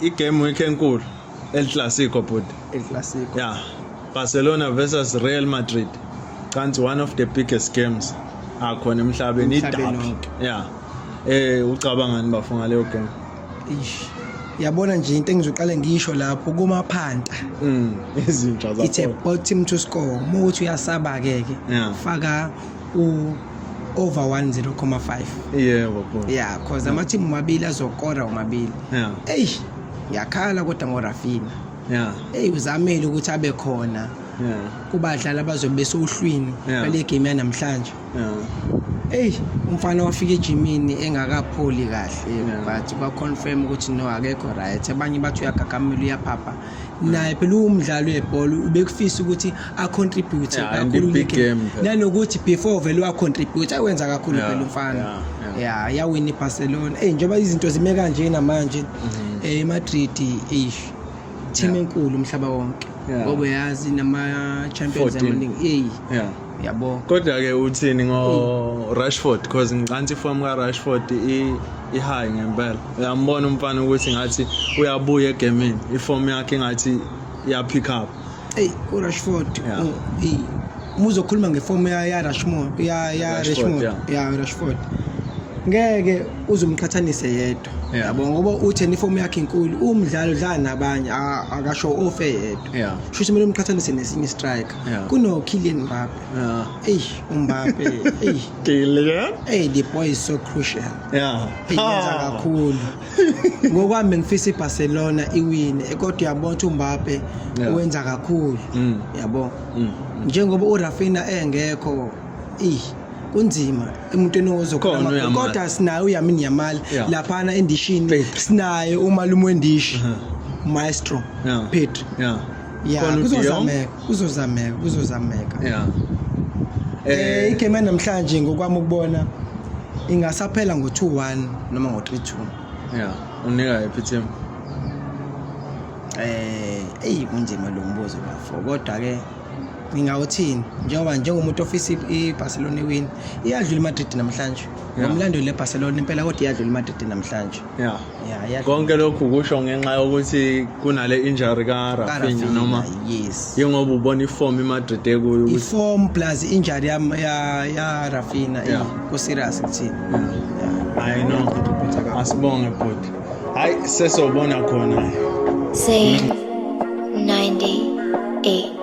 Igame week enkulu El Clasico bhuti. El Clasico. Yeah. Barcelona versus Real Madrid. Kanti one of the biggest games akhona emhlabeni idabi. Yeah. Eh ucabangani bafo ngaleyo game? Ish. Yabona nje into engizoqale ngisho lapho kuma phanta. Mm. Izinja zakho. It's a bottom to score. Uma uthi uyasaba ke ke. Faka u over 10,5 yebo yeah, yeah cause ama team mabili azokora omabili yeah hey yakhala kodwa ngo Rafina yeah hey uzamele ukuthi abe khona yeah kubadlali abazobe besohlwini ngale yeah. game yanamhlanje yeah Ey umfana wafika ejimini engakapholi kahle yeah. but kwa confirm ukuthi no akekho right abanye bathi uyagagamela uyaphapha naye phela uwumdlali webhola ubekufisa ukuthi acontribute yeah, kakhulu nanokuthi before vele wacontribute awenza kakhulu yeah, phela umfana yeah, yeah. yeah, yawina ibarcelona eyi njengoba izinto zime kanje namanje mhm. eh, emadrid mm -hmm. eish team yeah. enkulu umhlaba wonke ngoba yeah. yazi nama-champions amaningi eyi yeah. yabo kodwa ke uthini ngo Rashford because ngicanti form ka Rashford i i high ngempela uyambona umfana ukuthi ngathi uyabuya egamini i form yakhe ngathi iya pick up hey u Rashford yeah. oh, hey. muzokhuluma ngeform ya ya Rashford ya ya Rashford ya yeah. Rashford ngeke uzumqhathanise yedwa yabo ngoba uthe nifomu yakhe inkulu umdlalo udlala nabanye akasho ofe yedwa shuthi kumele umqhathanise nesinye istrike Yeah. Kuno Kylian Mbappe. Yeah. Hey, Mbappe. hey. Kylian. Hey, the boy is so crucial. Yeah. Hey, yenza ah. kakhulu. Ngokwami ngifisa iBarcelona iwine, kodwa uyabona ukuthi uMbappe wenza kakhulu. Mm. Yabo. Mm. Njengoba uRafinha engekho, eh kunzima emntwini ozokhona kodwa sinayo uyamini yamali laphana endishini sinayo umalume wendishi maestro Pedro ya Khona uDion. kuzozameka kuzozameka kuzozameka yeah Eh, eh igame yanamhlanje ngokwami ukubona ingasaphela ngo-2-1 noma ngo-3-2 yeah unika iphi team eh eyi kunzima lo mbuzo bafo kodwa-ke ngingawuthini njengoba njengomuntu ofisa i- i-barcelona iwini iyadlula imadrid namhlanje Yeah. ngomlandeli le-barcelona impela kodwa iyadlula imadrid namhlanje Yeah. Yeah, iyadlula. Konke lokhu kusho ngenxa yokuthi kunale injury ka Rafinha Karafinha, noma yes. yengoba ubona iform iMadrid ekuyo ukuthi Iform plus injury ya ya, ya Rafinha Yeah. yeah. ku serious kuthina. Yeah. I know. Asibonge bhuti. Hayi sesobona khona. Say 98.